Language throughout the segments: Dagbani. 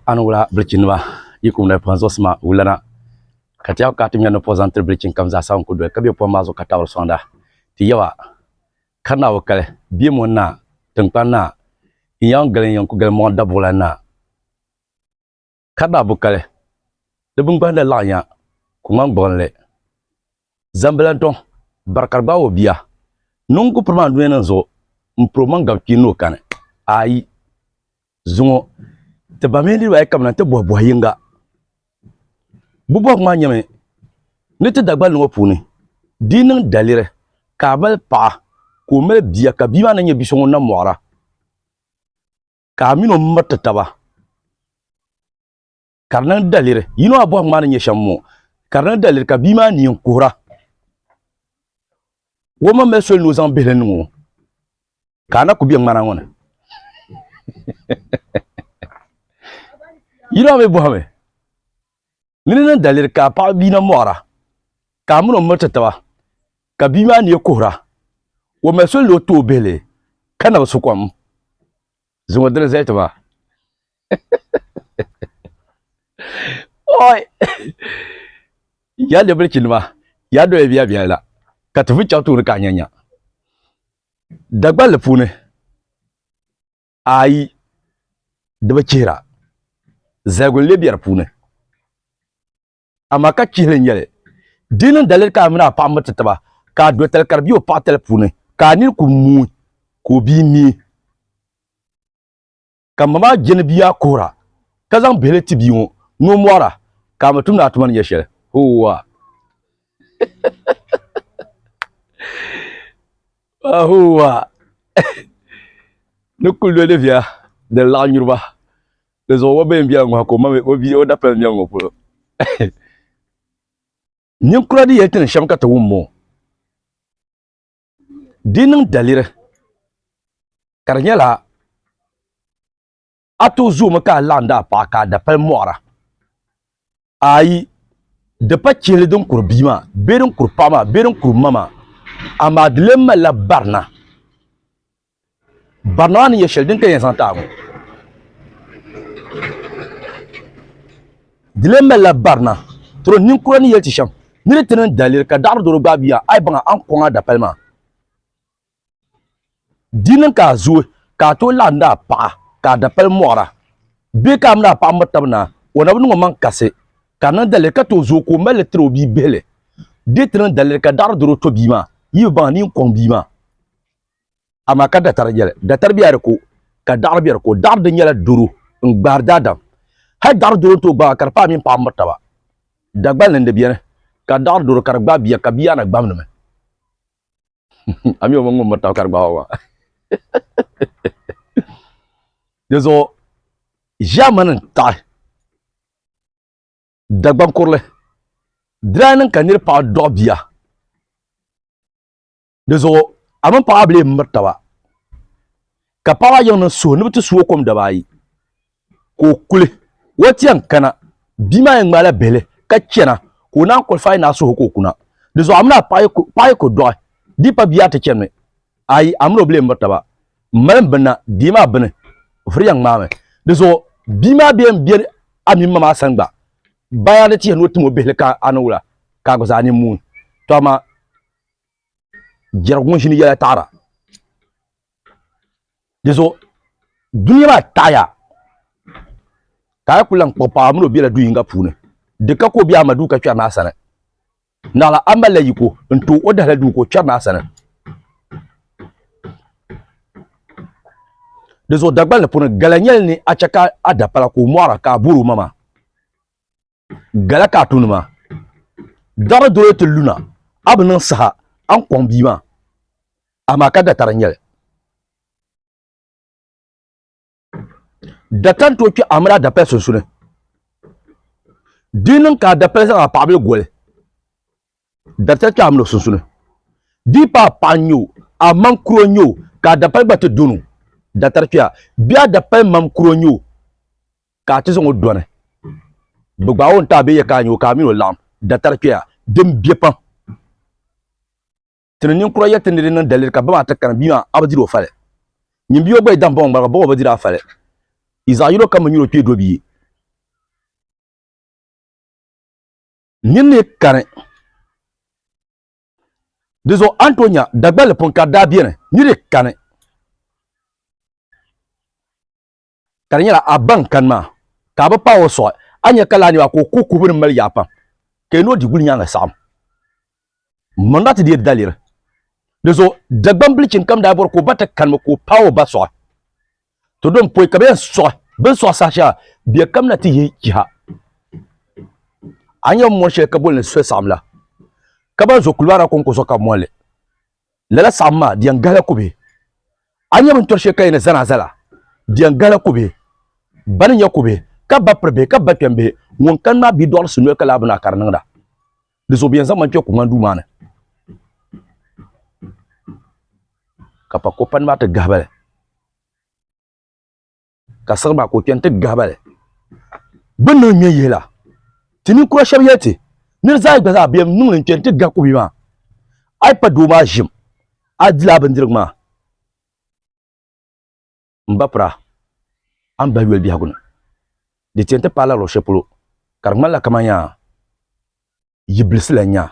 Ani wula bilichini nima yi kum na pɔhim zuɣusi maa wula na ka ti yaba ka ti ŋmɛri ni pɔh zaŋ tiri bilichini kam zaa sa n ku doli ka be pɔhim maa zuɣu ka tabiri sɔŋda ti yaba kari naa o kali bie mɔni naa tinkpani naa n yan gili n yan ku gili mɔɣu dabuɣila naa Ka ba bukali, di bingbahinda laɣinya ku ŋmani gbuɣinli. Zambilantɔŋ bari ka di gbaag o bia. Niŋ ku piri maa dunia nim zuɣu m-piri omaŋ gabi kpee ni o kani? Ayi! Zuŋɔ, ti ba mini niriba ayi kabina nti bɔhi bɔh yiŋga. Bɛ bɔhigu maa nyɛmi, Ni ti Dagbali ni ŋɔ puuni, di yi niŋ daliri ka a mali paɣa ka o mali bia ka bia maa na nyɛ bi so ŋun na mɔɣira, ka a mini o miriti taba ka di niŋ daliri yino a bɔhim maa ni nyɛ shɛm moo ka di niŋ daliri ka bia maa neen kuhira o ma mali soli ni o zaŋ bihili niŋ o ka a na ku be ŋmana ŋɔ ni yino a mi bɔhimi Mini ni daliri ka paɣaba bia na mɔɣira, ka a mini o miri ti taba, ka bia maa neei kuhira, o mali soli ni o ti o bihili ka na bi su kom zaŋ o dini zali ti ba. Oi! Ya ni bilichinima, ya doya bia bia la, ka ti vun chaŋ tuuni ka a nya nya. Dagballi puuni. ayi di bi chihira zaligu n-lee be di puuni amaa ka chihili n-nyɛli di niŋ daliri ka a mini a paɣa miriti taba ka a dotali ka di be o paɣitali puuni ka a nini kul muui ka o bia mi ka ma maa je ni bia kuhira ka zaŋ bihili ti bia ŋɔ ni o mɔhira ka a mi tum ni a tuma ni nyɛ shɛli hooa Ahowa ni kuli doli viya din laɣ nyuriba di zuɣu o bɛn biɛla ŋɔha ka o mami o bia o dapali mɛŋ ŋɔ polo ninkura di yɛli ti ni shɛm ka ti wum moo di niŋ daliri ka di nyɛla A tooi zoomi ka a laɣim di a paɣa ka a da pali mɔɣira? Ayi, di pa chihili din kuri bia maa bee din kuri paɣa maa bee din kuri ma maa, amaa di lee malila barina. Barina maa ni nyɛ shɛli din ka yɛn zaŋ ti a ŋɔ. Di lee malila barina. Tɔro ninkura ni yɛli ti shɛm, Ni di ti niŋ daliri ka daɣiri doro gbaai bia maa, a yi baŋ a, a ni kɔŋ a dapali maa. Di niŋ ka a zooi ka a tooi laɣindi a paɣa ka a dapali mɔɣira bee ka a mini a paɣa miri taba naai, o na bi niŋ omaŋ kasi ka a niŋ daliri ka tooi zooi ka o mali li tiri o bia bihili. Di ti niŋ daliri ka daɣiri doro to bia maa, yi bi baŋ a ni yin kɔŋ bia maa. Amaa ka datari yɛli, Datari bɛ a di ko, ka daɣiri bɛ a di ko. Daɣiri di nyɛla doro n-gbaari daadam. Hal daɣiri doro n-tooi gbaag a ka di paai a mini paɣa miri taba. Dagbalini di beni ka daɣiri doro ka di gbaag bia ka bia yaa na gbamdimi. a mi o mini ŋun miri taba ka di gbaai o maa di zuɣu ʒɛmani n taɣi dagban kurili diraa niŋ ka niri paɣa dɔɣi bia di zuɣu a mini paɣa bile n miri taba ka paɣa yiŋ niŋ suhu ni bi ti suo kom daba ayi ka o kuli o ti yɛn kana bia maa yɛn ŋmaai la bihili ka chɛna ka o naan kɔlifaai ni a suhu ka o kuna di zuɣu a mini a paɣa yi ku dɔɣi di pa bia ti chɛnimi ayi a mini o bi lee miri taba m mali m binna dii maa bini o firi yɛn ŋmaami di zuɣu bia maa bee n bɛ a mini ma maa sani gba baya ni tihi ni o tim o bihili ka a ni wula ka a gba zaa ni muui to amaa jɛrigu ŋun ʒini yɛla taɣara di zuɣu dunia maa taɣaya ka a kuli lahi kpuɣi paɣa mini o biɛla du yinga puuni di ka ka o biɛhi ma duu ka kpɛri naa sani naɣala a malila yiko n tooi o dahala duu ka o kpɛri naa sani di zuɣu dagbani puuni gala nyɛli ni a chɛ ka a da pala ka o mɔɣara ka a boori o maŋa Gala ka a tumdi maa. Dari doli ti lu na, a bi niŋ saha a ni kɔŋ bia maa, amaa ka datari n-nyɛ li. Data n-tooi kpe a mini a dapɛli sunsuuni. Di yi niŋ ka a dapɛli zaŋ a paɣibili goli, Daricha kpɛɣu mini o sunsuni. Di paai paɣa n-nyɛ o, a mam kuro n-nyɛ o, ka a dapali gba ti dɔni o. Datari kpɛɣu, bee a dapali mam kuro n-nyɛ o, ka a ti zaŋ o dɔni. Bɛ gbaai o n-ti a bee yɛ ka a nyɛ o, ka a mini o laɣim. Datari kpɛɣu, din biɛ pam. Ti ni ninkura yɛli ti ni di niŋ daliri ka bama ti kana, bia maa, a bi diri o fali. Nyin bia o gba yi dahi bɔŋɔ ŋmariga, bɔŋɔ bi diri a fali. Yi zaɣ yino kam bi nyuri o kpee do bia. Nyin ni kani di zuɣu a ni tooi nya Dagballi pun ka di daa beni ni di kani ka di nyɛla a ba n-kani maa ka a bi paai o suɣi a ni nya ka laa niriba ka o kuhi kuhibu din mali yaa pam ka yi ni o di gulinyaanŋa saɣim. Maŋa ti deei daliri. Di zuɣu Dagbaŋ bilichini kam daa bɔri ka o ba ti kanimi ka o paai o ba sɔɣi. To din pɔi ka bɛ yɛn sɔɣi bɛ ni sɔɣi saha shɛŋa bɛ kamina ti yihi chiha. A nya mɔri shɛli ka boli ni Swesaɣim la, ka ban zo Kulibara kɔŋko zuɣu ka bɛ mɔri li. Lala saɣim maa di yɛn gahila kubihi. A nya bintɔri shɛli ka yɛn ni Zanaaza la, di yɛn gahila kubihi. Ba ni nya kubihi, ka ba piri bihi, ka ba kpɛm bihi, ŋun kani maa bidɔɣirisi noli ka lahi bi naa ka di niŋda. Di zuɣu bɛ yɛn zaŋ ma kpɛ kuŋmani duu maa ni ka pa kopani maa ti gahiba li ka siɣiri maa ka o kpɛni ti gahiba li bi niŋ ŋmɛ yihi la ti ninkura shɛba yɛli ti ni di zaa gba zaa bɛ niŋ li n kpɛni ti gahi kubi maa a yi pa doo maa ʒim a dilaa bindirigu maa n ba pira a ni bahi yoli biɛhigu ni. Di ti yɛn ti paai la luɣ shɛli polo ka di ŋmanila kamani yaa yi bilisi la nyaa.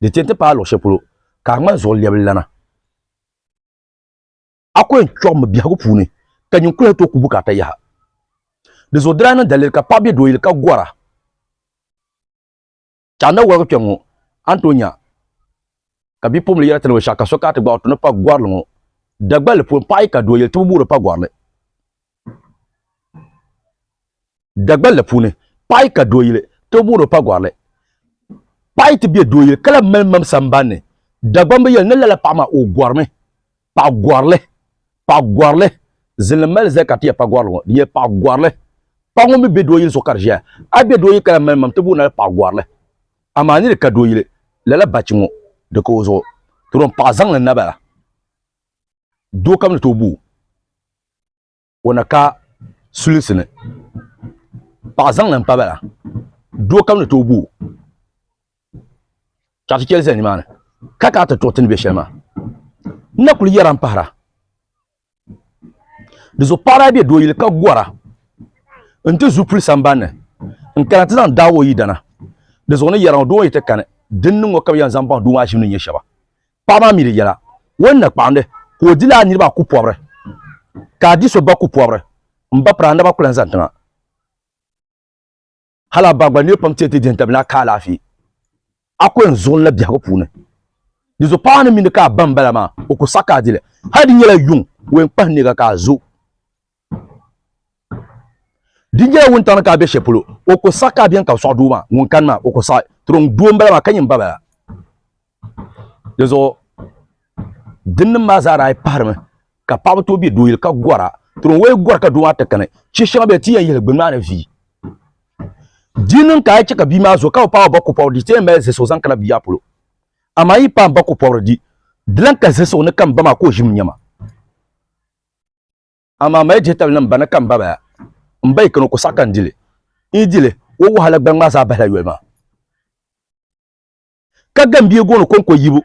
Di ti yɛn ti paai luɣ shɛli polo ka a ŋmani zuɣu lɛbililana. A ku yɛn kpiɔɣimi biɛhigu puuni ka nyin kuliha tooi ku bukaata yaha. Di zuɣu di daa niŋ daliri ka paɣa be dooyili ka gɔra. Ka na wɔrigi kpɛŋ ŋɔ, a ni tooi nya ka bipuɣimbila yɛra ti ni o shɛɣu ka so kana ti gbaɣi o ti ni pa gɔrili ŋɔ dagballi puuni. Paɣa yi ka doo yili ti bi boori pa gɔrili dagballi puuni. Paɣa yi ka doo yili ti bi boori o pa gɔrili. Paɣa yi ti be doo yili ka lahi mali mam sambanni, Dagbaŋ bi yɛli ni lala paɣa maa o gɔrimi. paɣagɔrili paɣagɔrili zilim mali zali ka ti yɛ paɣagɔrili ŋɔ di nyɛla paɣagɔrili paɣa ŋun mi bɛ doo yili zuɣu ka di ʒɛya a bɛ doo yili ka la mali mam ti booni la paɣagɔrili amaa ni di ka doo yili lala bachi ŋɔ di ka o zuɣu ti dɔn paɣa zaŋli naba la doo kam ni tooi boo o na ka sulisi ni paɣa zaŋli n pa bala doo kam ni tooi boo ka ti chɛli ʒɛ nimaani ka kana ti tuɣi ti ni bɛ shɛli maa n na kuli yɛra n pahara di zuɣu paɣa daa bɛ doo yili ka gora n ti zupili sambanni n kana ti zaŋ daai o yidana di zuɣu ni yɛra ŋɔ doo ŋɔ yi ti kani din niŋ ŋɔ ka bi yɛn zaŋ baŋ doo maa ʒim ni nyɛ shɛba Paɣa maa mi di yɛla, O ni na kpaɣindi ka o dila a niriba a ku pɔbiri, ka a di so ba ku pɔbiri, m ba piri a naba ku lan zani tiŋa. Hal a ba gba nir pam ti yɛn ti dihi n-tabili a ka alaafee, a ku yɛn zuɣu n-na biɛhigu puuni. Dinzuɣu paɣa maa ni mi ni ka a ba m-bala maa, o ku saɣi ka a di li. Hal di nyɛla yuŋ, o yɛn kpahi neega ka a zo. di nyɛla wuntaŋ ni ka a be shɛli polo o ko saɣi ka a beni ka bi sɔɣi doo maa ŋun kani maa o ko saɣi tiriŋ doo n bala maa ka nyɛ n ba bala di zuɣu dinnim maa zaa daa pahirimi ka paɣaba tooi be doo yili ka gɔra tiriŋ o yi gɔri ka doo maa ti kani che shɛŋa bɛ ti yɛn yihili gbini maa ni vi di niŋ ka a che ka bia maa zo ka o paɣa ba ko pɔbiri di ti yɛn mali zisuɣu zaŋ kana bia polo amaa yi paɣa ba ko pɔbiri di di lan ka zisuɣu ni ka n ba maa ka o ʒimi nyɛma Amaa mali jihitali niŋ bana ka m ba baya. M ba yi kani o ko saɣi ka n di li. N yi di li, o wahala gbaŋ maa zaa bahila yoli maa. Ka gambie gooni kɔŋko yibu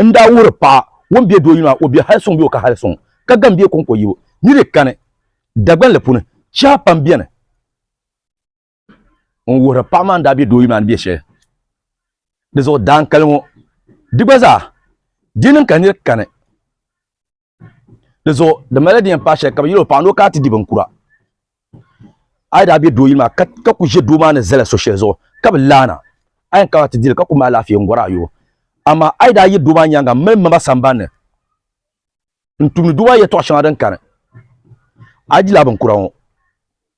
n daa wuhiri paɣa ŋun be doo yuli maa o be hali suŋ bee o ka hali suŋ. Ka gambie kɔŋko yibu ni di kani Dagbanli puuni, chɛha pam beni. n wuhiri paɣa maa ni daa bɛ doo yuli maa ni bɛ shɛli di zuɣu daankali ŋɔ di gba zaa di niŋ ka niri kani di zuɣu di mali di yɛn paai shɛli ka bi yɛli o paɣa ni o kana ti di binkura a yi daa bɛ doo yuli maa ka ku ʒɛ doo maa ni zali so shɛli zuɣu ka bi laana a yɛn kana ti dili ka ku mali alaafee n gɔri a yoo amaa a yi daa yi doo maa nyaanga mali maba sambanni N tumdi duba yɛtɔɣ shɛŋa din kani a jila a binkura ŋɔ,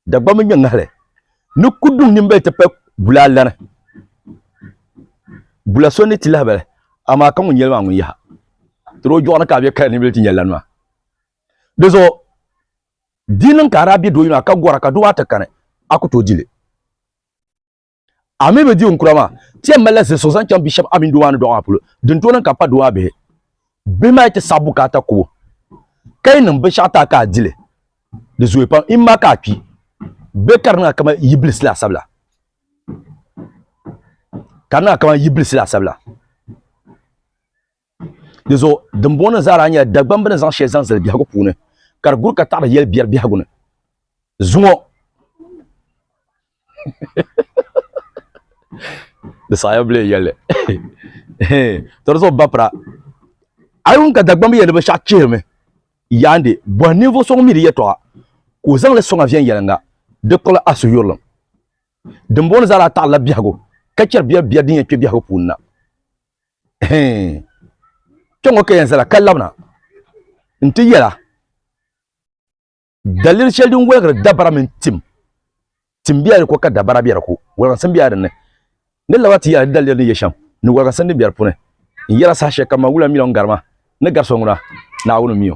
Dagbamba mini nyɛŋahili ni kuduŋ nimbali ti pahi bulaa lana. Bula so ni ti lahabali, amaa ka ŋun yɛli maa ŋun yaha tiri o jɔɣu ni ka a be kaya ni bili ti nya lani maa. Dizuɣu di niŋ ka a daa be do yino a ka gɔra ka duba ata kani, a ku tooi di li. A mi bi di n kura maa, ti yɛn malila zilisigu zaŋ chaŋ bia shɛba a mini doo maa ni dɔɣi maa polo. Din tooi niŋ ka a pa doo maa bihi, bihi maa yi ti saɣi bukaata kub o, ka yi niŋ binshɛɣu ti a ka a di li, di zooi pam, yi ma ka a kpi bee ka di niŋ a kaman yi bilisi laasabu la. Ka di niŋ a kaman yi bilisi laasabu la. Di zuɣu dimbɔŋɔ ni zaa daa nyɛla Dagbaŋ bɛ ni zaŋ shɛli zaŋ zali biɛhigu puuni ka di guri ka taɣiri yɛli biɛri biɛhigu ni zuŋɔ. Di saɣiya bi lee yɛli to di zuɣu bapira a yi wum ka Dagbaŋ bi yɛli ni binshɛɣu chihirimi yaandi bɔhi ninvuɣ so ŋun mi di yɛtɔɣa ka o zaŋ li sɔŋ a viɛnyɛliŋga di kpuɣila a suhuyurilim. Dimbɔŋɔ ni zaa daa taɣirila biɛhigu ka chɛri biɛri biɛri din yɛn kpe biɛhigu puuni na. kpɛŋɔ ka yɛn zala ka labina n ti yɛla daliri shɛli din wɔligiri dabara mini tim tim bɛla di ko ka dabara bɛ di ko wɔlgisim bɛla dinni ni laba ti yɛla di daliri ni yɛ shɛm ni wɔlgisim din bɛ di puuni n yɛla saha shɛli kam ma wula miliɔn garima ni gari so ŋuna naawuni miyo